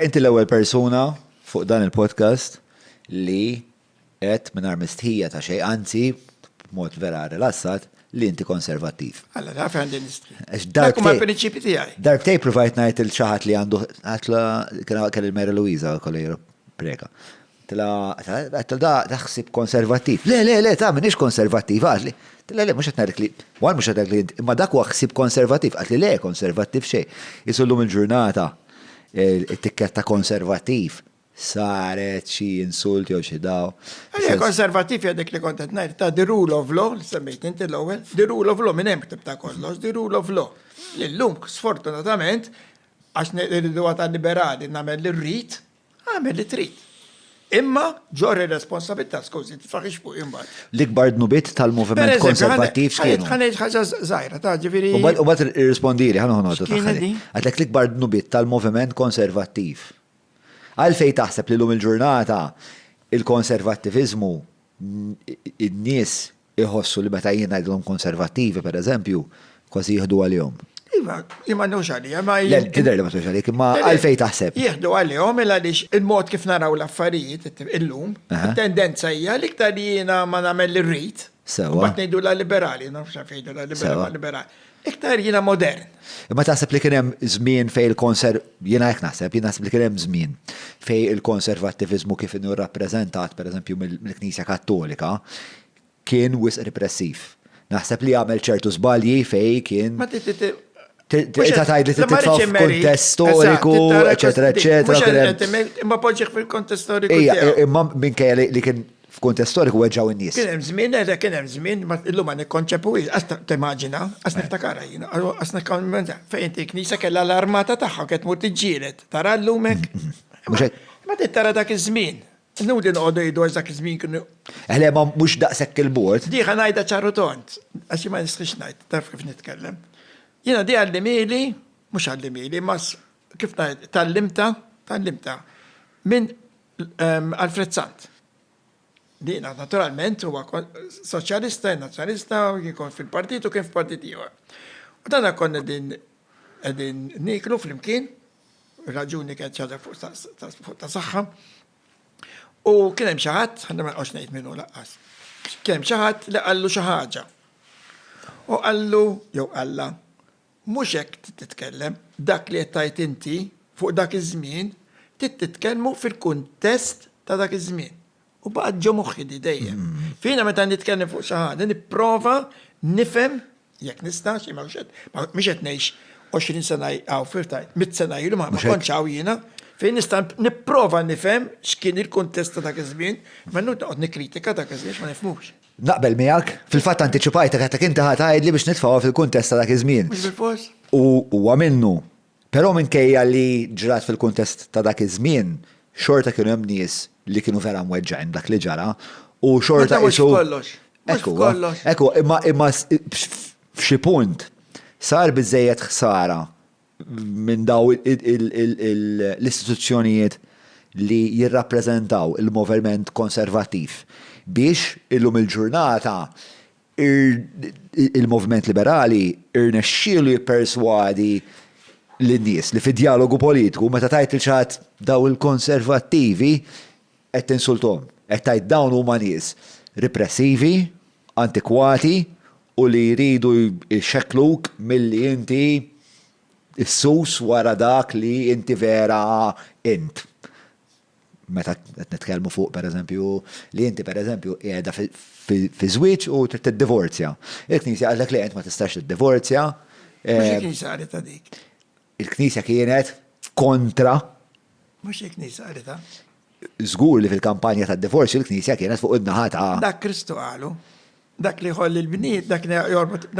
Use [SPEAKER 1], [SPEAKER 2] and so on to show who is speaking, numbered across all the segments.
[SPEAKER 1] Inti l-ewwel persuna fuq dan il-podcast li għedt mingħajr mistħija ta' xejn, anzi b'mod vera rilassat, li inti konservattiv. Alla, naf għandi
[SPEAKER 2] nistħi. Dak huma l-prinċipi
[SPEAKER 1] tiegħi.
[SPEAKER 2] Darbtej provajt ngħid
[SPEAKER 1] il xi ħadd li għandu kelli l-Mary Louisa kolli preka. Tila, Għedtlu da ħsieb konservattiv. Le, le, le, ta' minix konservattiv, għadli. Tila, le, mux qed ngħidlek li, one mhux qed ngħidlek li int, imma dak huwa ħsieb konservattiv. Qaltli le, konservattiv xejn. Qisu llum il-ġurnata it-tikketta konservattiv saret xi insult jew xi daw. Le, konservattiv
[SPEAKER 2] hija dik li kont qed ngħid, ta' the rule of law, li semmejt int l-ewwel, the rule of law minn hemm ktibt kollox, the rule of law. Li llum sfortunatament għax irridu għad għal-liberali nagħmel li rrid, Agħmel li trid. Imma ġorr ir-responsabilità skużi, tifraħix fuq imbagħad. L-ikbar dnubiet
[SPEAKER 1] tal-moviment konservattiv x'kienu? Ħaneġ ħaġa żgħira
[SPEAKER 2] ta' ġifieri. U mbagħad irrispondili
[SPEAKER 1] ħa noħnodu taħħel. Għadlek
[SPEAKER 2] l-ikbar
[SPEAKER 1] dnubiet tal-moviment konservattiv. Għalfejn taħseb li lum il-ġurnata il-konservattiviżmu n-nies Iħossu li meta jien ngħidilhom konservattivi, per eżempju, kważi jieħdu għalihom. Iva, jien ma
[SPEAKER 2] nħux għalija, ma jien. Le, tidher li ma tħux għalik,
[SPEAKER 1] imma għalfejn taħseb? Jieħdu għalihom il
[SPEAKER 2] għaliex il-mod kif naraw l-affarijiet illum, it-tendenza hija l-iktar jiena ma nagħmel l-irrid. Sewwa. Mbagħad ngħidu la
[SPEAKER 1] liberali,
[SPEAKER 2] nafx għalfejn ngħidu la liberali. Iktar jiena modern. Imma taħseb li kien
[SPEAKER 1] hemm żmien fejn il-konser, jiena hekk naħseb, jien naħseb li kien hemm żmien fejn il-konservattiviżmu kif inhu rrappreżentat pereżempju mill-Knisja Kattolika kien wisq repressiv. Naħseb li għamel ċertu żbalji fejn kien.
[SPEAKER 2] Tista'
[SPEAKER 1] tgħid li titfa' f'kuntest storiku, eċetera, eċetera. Imma
[SPEAKER 2] poġġiħ fil-kuntest storiku. Imma minkejja
[SPEAKER 1] li kien f'kuntest storiku weġġgħu n-nies. Kien hemm żmien, le kien hemm
[SPEAKER 2] żmien, ma illum ma nikkonċepuhiex, qas timmaġina, qas niftakarha jien, qas nikkonċepuha. Fejn inti knisja kellha l-armata tagħha kien tmur tiġġieled, tara llum hekk. Ma trid tara dak iż-żmien. Nudi noqogħdu jgħidu għax dak iż-żmien kienu. Eħle ma mhux
[SPEAKER 1] daqshekk il-bord. Diħa ngħidha ċaru
[SPEAKER 2] tont, għax ma nistħix ngħid, taf kif nitkellem. Jiena di għallimili, mhux għallimili, ma kif ngħid, tallimta, tallimta. Minn Alfred Sant. Dina, naturalment, huwa soċjalista, nazzjonalista, jkun fil-partit u kien f'partit ieħor. U dana konna din qegħdin niklu flimkien, raġuni kienet ċaġa fuq ta' saħħa. U kien hemm xi ħadd, ħanna ma nqgħodx ngħid minnu laqqas. Kien hemm xi ħadd li qallu xi ħaġa. U qallu, jew qalla, Mhux hekk trid titkellem. Dak li qed tgħid inti fuq dak iż-żmien trid titkellmu fil-kuntest ta' dak iż-żmien. U baqgħet ġo moħħi di dejjem. Jiena meta nitkellem fuq xi ħaġa nipprova nifhem, jekk nista', xi mhux qed, mhux qed ngħix 20 sena hawn fir tajt, mitt sena ilu ma kontx hawn jiena, fejn nista' nipprova nifhem x'kien il-kuntest ta' dak iż-żmien, ma noqgħod nikkritika dak iż-żmien għax ma nifhmux. Naqbel miegħek,
[SPEAKER 1] fil-fatt antiċipajtek għatek inti ħa tgħidli biex nitfgħuha fil-kuntest ta' dak iż-żmien. U
[SPEAKER 2] huwa minnu.
[SPEAKER 1] Però minkejja li ġrat fil-kuntest ta' dak iż-żmien, xorta kienu hemm nies li kienu vera mweġġgħin b'dak li ġara u xorta qisu.
[SPEAKER 2] Hekk huwa.
[SPEAKER 1] Hekk huwa, imma f'xi punt sar biżżejjed ħsara minn dawn l-istituzzjonijiet li jirrappreżentaw il-moverment konservattiv biex illum il-ġurnata il-moviment liberali rnexxielu jipperswadi lin-nies li fid-djalogu politiku meta tgħid lil xi ħadd dawn il-konservattivi qed tinsulthom, qed tgħid dawn huma nies ripressivi, antikwati u li jridu jxekkluk milli inti ssus wara dak li inti vera int. Meta qed nitkellmu fuq pereżempju li inti pereżempju qiegħda fi żwieġ u trid tiddivorzja. Il-Knisja qaltlek le int ma tistax tiddivorzja. Mhux
[SPEAKER 2] il-Knisja qalet dik. Il-Knisja
[SPEAKER 1] kienet kontra. Mhux
[SPEAKER 2] il-Knisja qalitha. Żgur
[SPEAKER 1] li fil-kampanja tad-divorzju il-Knisja kienet fuq in-naħa ta'. Dak Kristu qalu.
[SPEAKER 2] Dak li jħoll il-bnied, dak li jorbot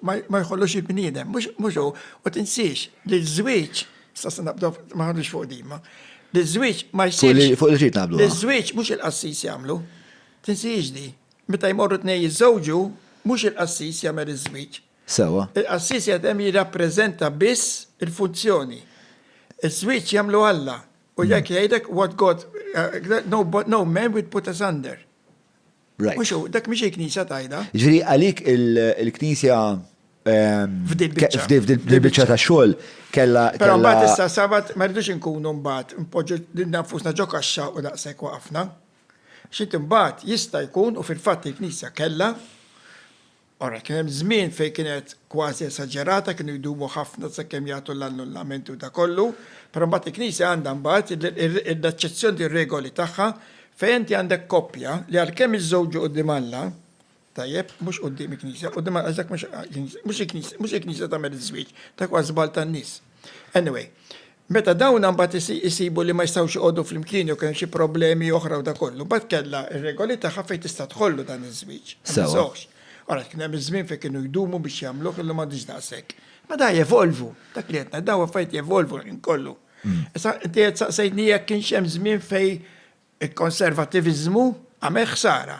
[SPEAKER 2] ma jħollux il-bniedem, mhux hu. U tinsiex li ż-żwieġ, sassa naqbdu ma ħadux fuq dima, li ż-żwieġ ma jsirx. Fuq il-ġid naqbdu. Li ż-żwieġ
[SPEAKER 1] mhux il-qassis
[SPEAKER 2] jagħmlu. Tinsiex di. Meta jmorru tnej jiżżewġu, mhux il-qassis jagħmel iż-żwieġ. Sewwa. Il-qassis
[SPEAKER 1] qiegħed hemm
[SPEAKER 2] jirrappreżenta biss il-funzjoni. Iż-żwieġ jagħmlu Alla, u jekk jgħidlek what God, no man will put asunder. Right. Mhux hu, dak
[SPEAKER 1] mhix il-Knisja
[SPEAKER 2] tgħidha. Jiġifieri
[SPEAKER 1] għalik
[SPEAKER 2] il-Knisja
[SPEAKER 1] F'dil biċċa. F'dil biċċa ta' xogħol kellha. Però mbagħad issa
[SPEAKER 2] sabat ma rridux inkunu mbagħad npoġġu lil nafusna ġo kaxxa u daqshekk waqafna. X'int imbagħad jista' jkun u fil-fatt il-Knisja kellha Ara, kien hemm żmien fejn kienet kważi esaġerata, kienu jdumu ħafna sakemm jagħtu l-annullamenti u dak kollu, però mbagħad il-Knisja għandha mbagħad l-eċċezzjoni lir-regoli tagħha fejn inti għandek koppja li għalkemm iżżewġu quddiem Alla, tajjeb, mhux quddiem il-Knisja, quddiem Alla għax dak mhux il-Knisja tagħmel iż-żwieġ, dak huwa żball tan-nies. Anyway, meta dawn mbagħad isibu li ma jistgħux joqogħdu flimkien jew kemm xi problemi oħra u da kollu, mbagħad kellha r-regoli tagħha fejn tista' tħollu dan iż-żwieġ. Sewa. Alright, kien hemm iż-żmien fejn kienu jdumu biex jagħmluh, illum m'għadhiex daqshekk. Ma da jevolvu, dak li qed ngħid, dawn affarijiet jevolvu l-ħin kollu. Issa inti qed saqsejtni jekk kienx hemm żmien fejn il-konservattiviżmu għamel ħsara.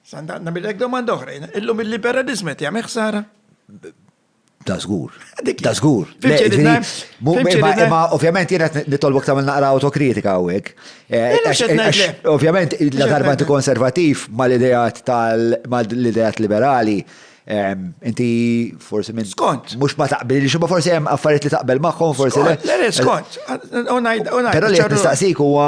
[SPEAKER 2] Sa nagħmilek domanda oħra jiena, illum il-liberaliżmu qed jagħmel ħsara?
[SPEAKER 1] Da zgur. Da zgur. Ma ovvjament jena nitolbok tamil naqra autokritika għawek. Eh, ovvjament, la darba inti konservativ ma l-idejat tal ma l-idejat liberali. Inti forsi minn. Skont. Mux ma taqbel li
[SPEAKER 2] xumma
[SPEAKER 1] forsi jem affariet li taqbel maħħom forsi. Le, skont. Pero li nistaqsik huwa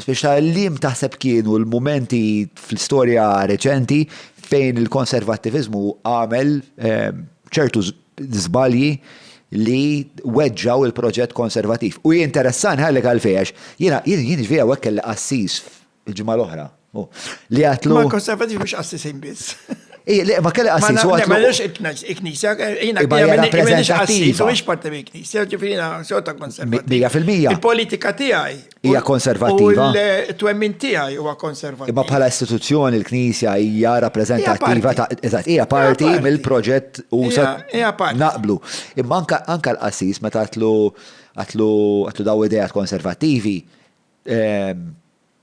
[SPEAKER 1] speċa li taħseb kienu l-momenti fl-istoria reċenti fejn il-konservattiviżmu għamel ċertu żbalji li weġġaw il-proġett konservativ. U jinteressan ħallek għalfejax, jiena jien ġvija għek kelli qassis il-ġimgħa l-oħra. Li għatlu. Ma konservativ mhux qassisin
[SPEAKER 2] biss. Ej, li ma kelli
[SPEAKER 1] qassis u għatlu. Ma nix
[SPEAKER 2] il-knisja, jiena knisja, u ix parti mill-knisja, ġifiri jiena sota konservativ. Bija fil-mija. Il-politika
[SPEAKER 1] tiegħi
[SPEAKER 2] Hija konservattiva.
[SPEAKER 1] U l-twemmin
[SPEAKER 2] tiegħi huwa konservattiva. Imma bħala istituzzjoni
[SPEAKER 1] l-Knisja hija rappreżentattiva ta' eżatt, hija parti mill-proġett u sa naqblu. Imma anke l-qassis meta għatlu għatlu għatlu daw idejat konservattivi ehm,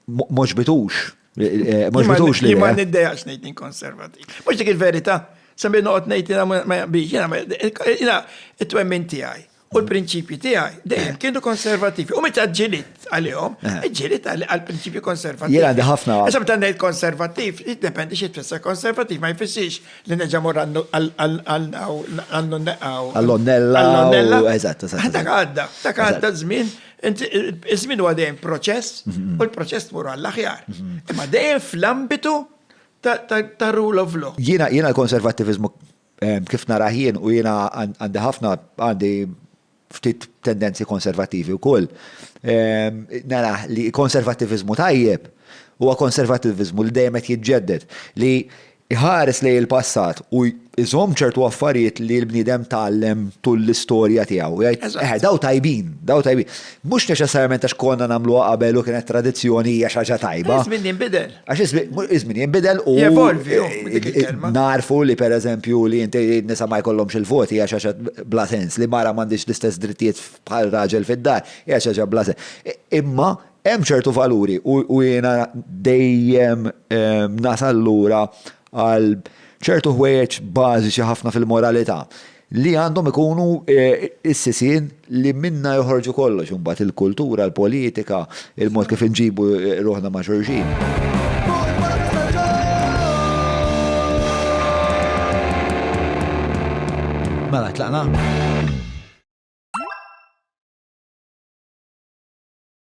[SPEAKER 1] mhux bitux. Eh, mhux bitux
[SPEAKER 2] li. Ma niddejaqx ngħid inkonservattiv. Mhux dik il-verità. Semmi noqgħod ngħid jiena ma jaqbix, jiena it-twemmin tiegħi. U l-prinċipji tiegħi dejjem kienu konservativi. U meta ġilit għalihom, eh. ġilit għal prinċipji konservativi. Jien għandi ħafna. Issa meta
[SPEAKER 1] ngħid konservativ,
[SPEAKER 2] jiddependi xi tfisser konservativ, ma jfissirx li neġa' mor għandu neqaw. Għall-onnella. Għall-onnella. Eżatt, eżatt.
[SPEAKER 1] Dak għadda, dak
[SPEAKER 2] għadda żmien Iż-żmien huwa dejjem proċess mhm. u l-proċess tmur għall-aħjar. Mhm. Imma dejjem fl-ambitu ta' rule of law. Jiena l-konservativizmu
[SPEAKER 1] Kif narah jien, u jiena għandi ħafna, għandi ftit tendenzi konservattivi wkoll, narah li konservattiviżmu tajjeb huwa konservattiviżmu li dejjem qed jiġġedded, li jħares lejn il-passat u jżomm ċertu affarijiet li l-bniedem tgħallem tul l-istorja tiegħu. Jgħid, eħe, dawn tajbin, dawn tajbin. Mhux neċessarjament għax konna nagħmluha qabel u kienet tradizzjoni hija xi ħaġa tajba. Iż-żmien jinbidel. Għax
[SPEAKER 2] iż-żmien
[SPEAKER 1] jinbidel u. Jevolvi, narfu li per eżempju li inti nisa ma jkollhomx il-voti għax għax bla sens li mara m'għandix l-istess drittijiet bħal raġel fid-dar, għax għax bla sens. Imma hemm ċertu valuri u jiena dejjem nasal lura għal ċertu ħwejjeġ bażiċi ħafna fil-moralità li għandhom ikunu s-sisien li minna joħorġu kollox imbagħad il-kultura, l-politika, il-mod kif inġibu ruħna ma' xulxin. Mela, tlaqna?